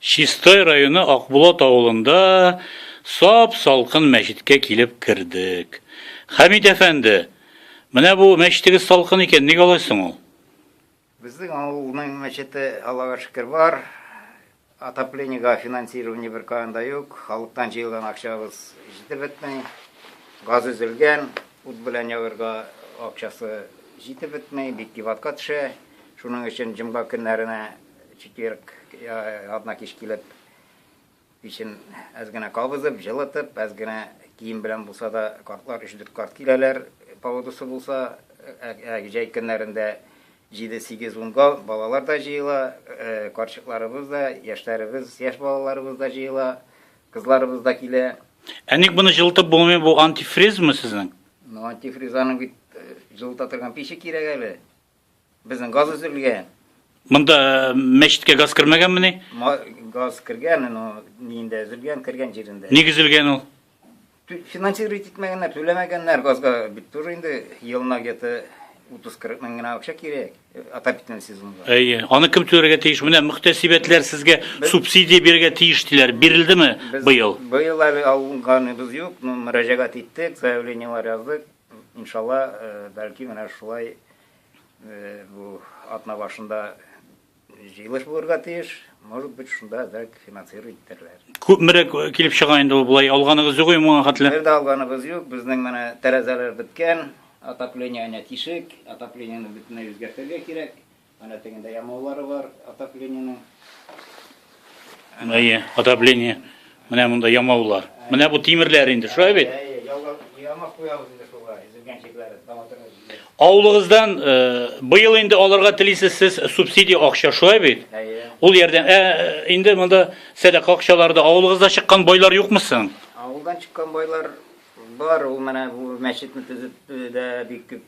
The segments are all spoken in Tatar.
Чистай районы Акбулат авылында сап салкын мәчеткә килеп кердек. Хәмит әфәнде, менә бу мәчетегез салкын икән, ник алай соң ул? Безнең авылның мәчете Аллага шөкер бар. Отоплениегә финансирование беркаян да юк. Халыктан җыелган акчабыз җитеп бетми. Газ өзелгән, ут белән ягырга акчасы җитеп бетми, бик кибатка төшә. Шуның өчен җомга көннәренә четверг, ятна кич килеп, Пичен әз генә кабызып, җылытып, әз генә кием белән булса да, картлар өч-дүрт карт киләләр, погодасы булса, ә җәй көннәрендә җиде-сигез-унга балалар да җыела, карчыкларыбыз да, яшьләребез, яшь балаларыбыз да җыела, кызларыбыз да килә. Ә ник моны җылытып булмый, бу антифризмы сезнең? Ну, антифриз аның бит җылыта торган пиче кирәк әле. Безнең газ өзелгән. Монда э, мәчеткә газ кермәгәнмени? Газ кергән, но нинде өзелгән, кергән җирендә. Ник өзелгән ул? Финансировать итмәгәннәр, түләмәгәннәр газга бит тоже инде елына где-то 30-40 мең генә акча кирәк э, отопительный сезонга. Әйе. Аны кем түләргә тиеш? Менә мөхтәсибәтләр сезгә субсидия бирергә тиеш диләр. Бирелдеме быел? Быел әле алганыбыз юк, но мөрәҗәгать иттек, заявлениелар яздык. Иншалла, бәлки менә шулай бу атна башында җыелыш булырга тиеш, может быть, шунда әзрәк финансировать итәрләр. Күпмерәк килеп чыга инде ул болай, алганыгыз юк ем моңа хәтле? Бер дә алганыгыз юк, безнең менә тәрәзәләр беткән, отопление әнә тишек, отоплениене бөтенләй үзгәртергә кирәк. Әнә тегендә ямаулары бар отоплениенең. Әйе, отопление. Менә монда ямаулар. Менә бу тимерләр инде, шулай бит? Әйе, яуга ямак куябыз инде шуга, изелгән чикләре таматырга җибәрә. Авылыгыздан быел инде аларга телисез сез субсидия акча, шулай бит? Әйе. Ул ярдәм. Ә инде монда сәдака акчалары да авылыгызда чыккан байлар юкмы соң? Авылдан чыккан байлар бар, ул менә бу мәчетне төзетүдә бик күп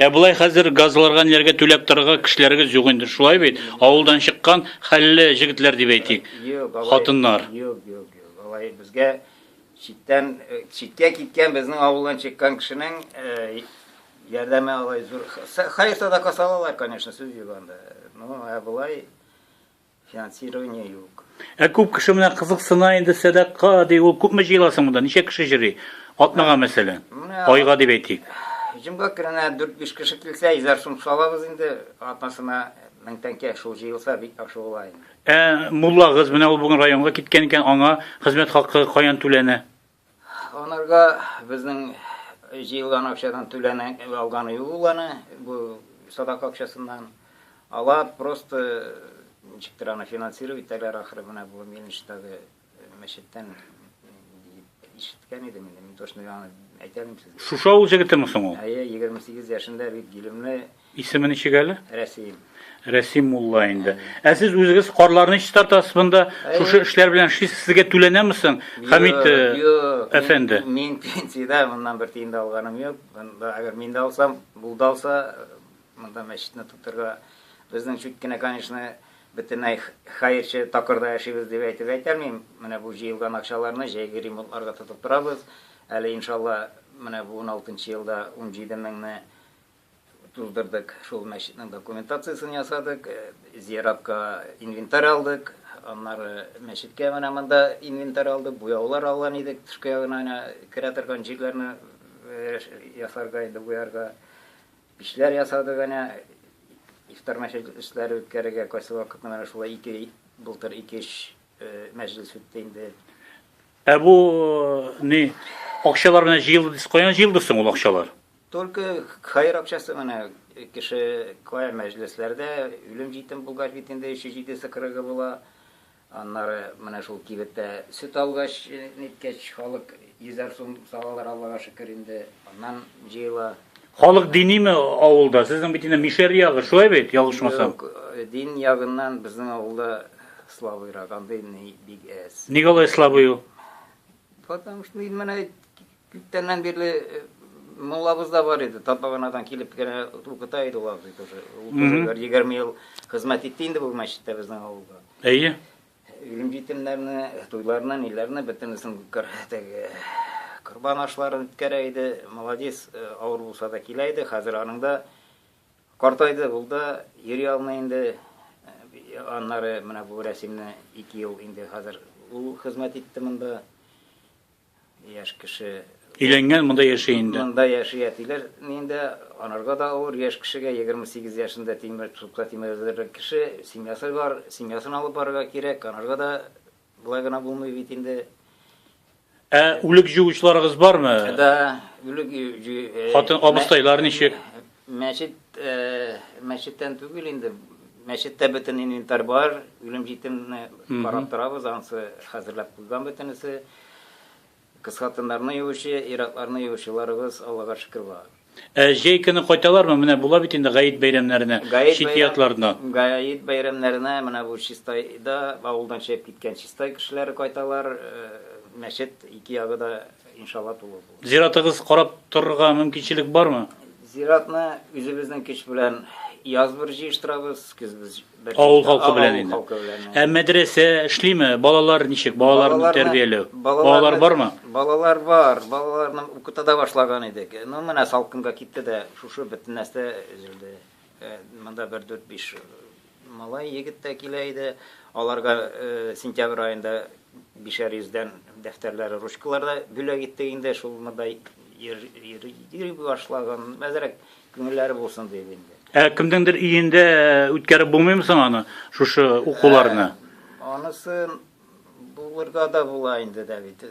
Ә болай хәзер газларга ниләргә түләп торырга кешеләрегез юк инде, шулай бит? Авылдан чыккан хәлле җегетләр дип әйтик, хатыннар. Юк, юк, юк, алай безгә читтән, читкә киткән безнең авылдан чыккан кешенең ярдәме алай зур. Хәер садака салалар, конечно, сүз юк анда. Ну, ә болай Финансирование юк. Ә күп кеше менә кызыксына инде сәдака ди, ул күпме җыела соң монда? Ничә кеше җыри? Атнага мәсәлән. Менә- Айга дип әйтик. Җомга көненә 4-5 кеше килсә, йөзәр сум салабыз инде. Атнасына мең тәңкә шул җыелса, бик яхшы була инде. Ә муллагыз менә ул бүген районга киткән икән, аңа хезмәт хакы каян түләнә? Анарга безнең җыелган акчадан түләнә алганы юк ул аны, бу садак акчасыннан. Алар просто ничектер аны финансировать итәләр ахры, менә бу Мельништагы мәчеттән ишеткән идем инде, мин точно аны әйтә алмыйм сезгә. Шушы авыл җегетеме соң ул? Әйе, 28 яшендә бик гилемле, Исеме ничек әле? Рәсим. Рәсим мулла инде. Ә сез үзегез карларны чистартасыз монда? Шушы эшләр белән эшлисез. Сезгә түләнәме соң, Хәмит э, әфәнде? Мин пенсиядә, моннан бер тиен дә алганым юк. Монда әгәр мин дә алсам, бул да алса, монда мәчетне тотырга безнең чуть кенә, конечно, бөтенләй хәерче такырда яшибез дип әйтеп әйтәлмим. Менә бу җыелган акчаларны җәйге ремонтларга тотып торабыз. Әле иншалла, менә бу 16 елда 17 меңне Туздырдык, шул мәчетнең документациясен ясадык, зиратка инвентарь алдык, аннары мәчеткә менә монда инвентарь алдык, буяулар алган идек, тышкы ягына менә керә торган җирләрне ясарга инде буярга, пичләр ясадык әнә, ифтар мәҗлесе эшләре үткәрергә кайсы вакытны менә шулай ике былтыр ике-өч мәҗлес үтте инде. Ә бу ни акчалар менә җыелды дисез, каян җыелды соң ул акчалар? Только каир акчасы гына кеше кая мәҗлесләрдә үлем җитем булгач бит инде өче җидесе кырыгы була. Аннары менә шул кибеттә сөт алгач ниткәч халык йөзәр сум салалар Аллага шөкер инде аннан җыела. Халык диниме авылда? Сезнең бит инде Мишәр ягы, шулай бит, ялгышмасам? Юк, дин ягыннан безнең авылда слабыйрак, андый ни бик әз. Ник алай слабый ул? Потому что инде менә Күптәннән бирле муллабыз да бар иде, Татбаганадан килеп кенә укыта иде ул абзый тоже. Ул тоже бер егерме ел хезмәт итте инде бу мәчеттә безнең авылда. Әйе. Үлем җитемнәрне, туйларны, ниләрне бөтенесен теге корбан ашларын үткәрә иде. Молодец, э, авыр булса да килә иде. Хәзер аның да картайды, ул да йөри алмый инде. Э, аннары менә бу рәсемне ике ел инде хәзер ул хезмәт итте монда. Яшь кеше. Өйләнгән, монда яши инде. Монда яши әтиләр инде, анарга да авыр, яшь кешегә, 28 яшендә тимер тутка тимердергән кеше, семьясы бар, семьясын алып барырга кирәк, анарга да болай гына булмый бит инде. Ә үлек җуучыларыгыз бармы? Да, үлек җу... Хатын абыстайлар ничек? Мәчет, мәчеттән түгел инде, мәчеттә бөтен инвентарь бар, үлем җитемне карап торабыз, ансы хәзерләп куйган бөтенесе. Кыз хатыннарны юучы, ир-атларны юучыларыбыз, Аллага шөкер, бар. Ә җәй көне кайталармы? Менә була бит инде гаит бәйрәмнәренә, чит ятларына. Гаит бәйрәмнәренә менә бу Чистайда, авылдан чыгып киткән Чистай кешеләре кайталар. Мәчет ике ягы да Иншалла тулы булыр. Зиратыгыз карап торырга мөмкинчелек бармы? Зиратны үзебезнең көч белән яз бер җыештырабыз, көз бер. Авыл халкы белән инде. Ә мәдрәсә эшлиме? Балалар ничек? Балаларны тәрбияләү. Балалар бармы? Балалар бар. Балаларны укыта да башлаган идек. Ну, менә салкынга китте дә, шушы бөтен нәрсә өзелде. Э, монда бер дүрт биш Малай егет тә килә иде. Аларга сентябрь аенда бишәр йөздән дәфтәрләре, ручкалар да бүләк иттек инде. Шул монда йөри башлаган. Әзрәк күңелләре булсын дип инде. Ә кемнеңдер өендә үткәреп булмыймы соң аны, шушы укуларны? Анысын булырга да була инде дә бит.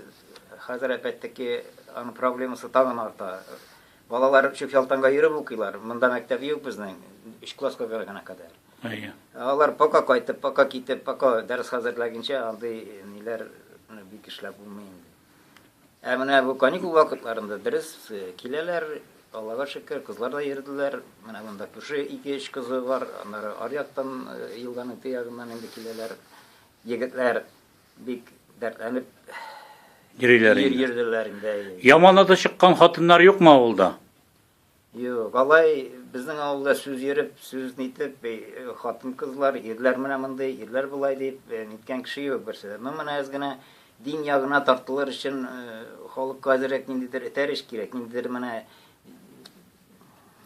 Хәзер әпәттеки аның проблемасы тагын арта. Балалар чүп ялтанга йөреп укыйлар. Монда мәктәп юк безнең, өч класска гына кадәр. Әйе. Алар пока кайтып, пока китеп, пока дәрес хәзерләгенчә андый ниләр бик эшләп булмый инде. Ә менә бу каникул вакытларында дөрес киләләр, Аллага шөкер, кызлар да йөрделәр. Менә монда күрше ике-өч кызы бар, аннары аръяктан елганың теге ягыннан инде киләләр егетләр. Бик дәртләнеп йөриләр инде. Йөрделәр инде. Яман аты чыккан хатыннар юкмы авылда? Юк, алай безнең авылда сүз йөреп, сүз нитеп, хатын-кызлар, ирләр менә мондый, ирләр болай дип, ниткән кеше юк берсе. Ну, менә әз генә дин ягына тартылыр өчен халыкка әзерәк ниндидер этәр эш кирәк, ниндидер менә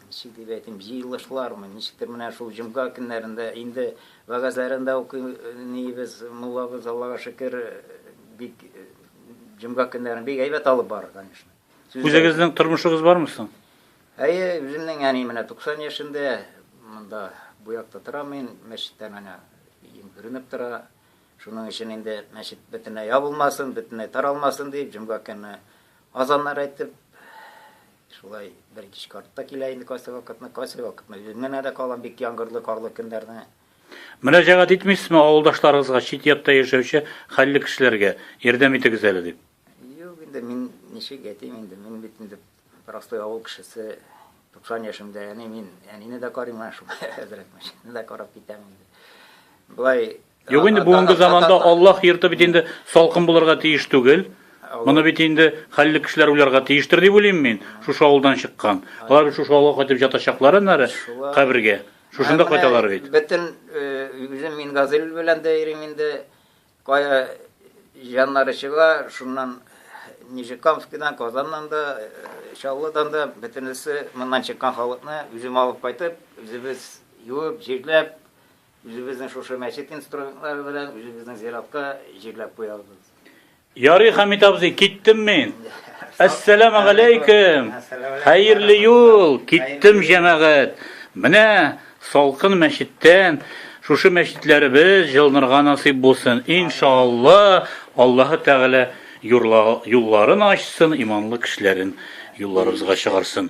Ничек дип әйтим, җыелышлармы, ничектер менә шул җомга көннәрендә инде вәгазьләрен дә укыйбыз, муллабыз, Аллага шөкер, бик җомга көннәрен бик әйбәт алып бара, конечно. Үзегезнең тормышыгыз бармы соң? Әйе, үземнең әни менә 90 яшендә, монда бу якта торам мин, мәчеттә менә өем күренеп тора. Шуның өчен инде мәчет бөтенләй ябылмасын, бөтенләй таралмасын дип, җомга көнне азаннар әйтеп, Шулай бер кич карт та килә инде кайсы вакытны, кайсы вакытны үз менә дә калам бик яңгырлы, карлы көннәрне. Мөрәҗәгать итмисезме авылдашларыгызга, чит якта яшәүче хәлле кешеләргә, ярдәм итегез әле дип? Юк инде, мин ничек әйтим инде, мин бит инде простой авыл кешесе, 90 яшемдә, әни мин, әнине дә карыйм, менә шулай әзрәк мәчетне дә карап китәм инде. Болай Юк инде бүгенге заманда Аллаһ йорты бит инде салкын булырга тиеш түгел. Моны бит инде хәлле кешеләр уйларга тиештер дип уйлыйм мин. Шушы авылдан чыккан. Алар бит шушы авылга кайтып ятачаклар аннары кабергә. Шушында кайталар бит. Бөтен үзем мин Газил белән дә йөрим инде. Кая җаннары чыга, шуннан Нижекамскидан, Казаннан да, Чаллыдан да бөтенесе моннан чыккан халыкны үзем алып кайтып, үзебез юып, җирләп, Үзебезнең шушы мәчет инструментлары белән үзебезнең зиратка җирләп куябыз. Ярый, Хәмит абзый, киттем мин. Әссәламу алейкум. Хәерле юл. Киттем, җәмәгать. Менә салкын мәчеттән шушы мәчетләребез җылынырга насыйп булсын. Иншалла, Аллаһы Тәгалә юлларын ачсын, иманлы кешеләрен юлларыбызга чыгарсын.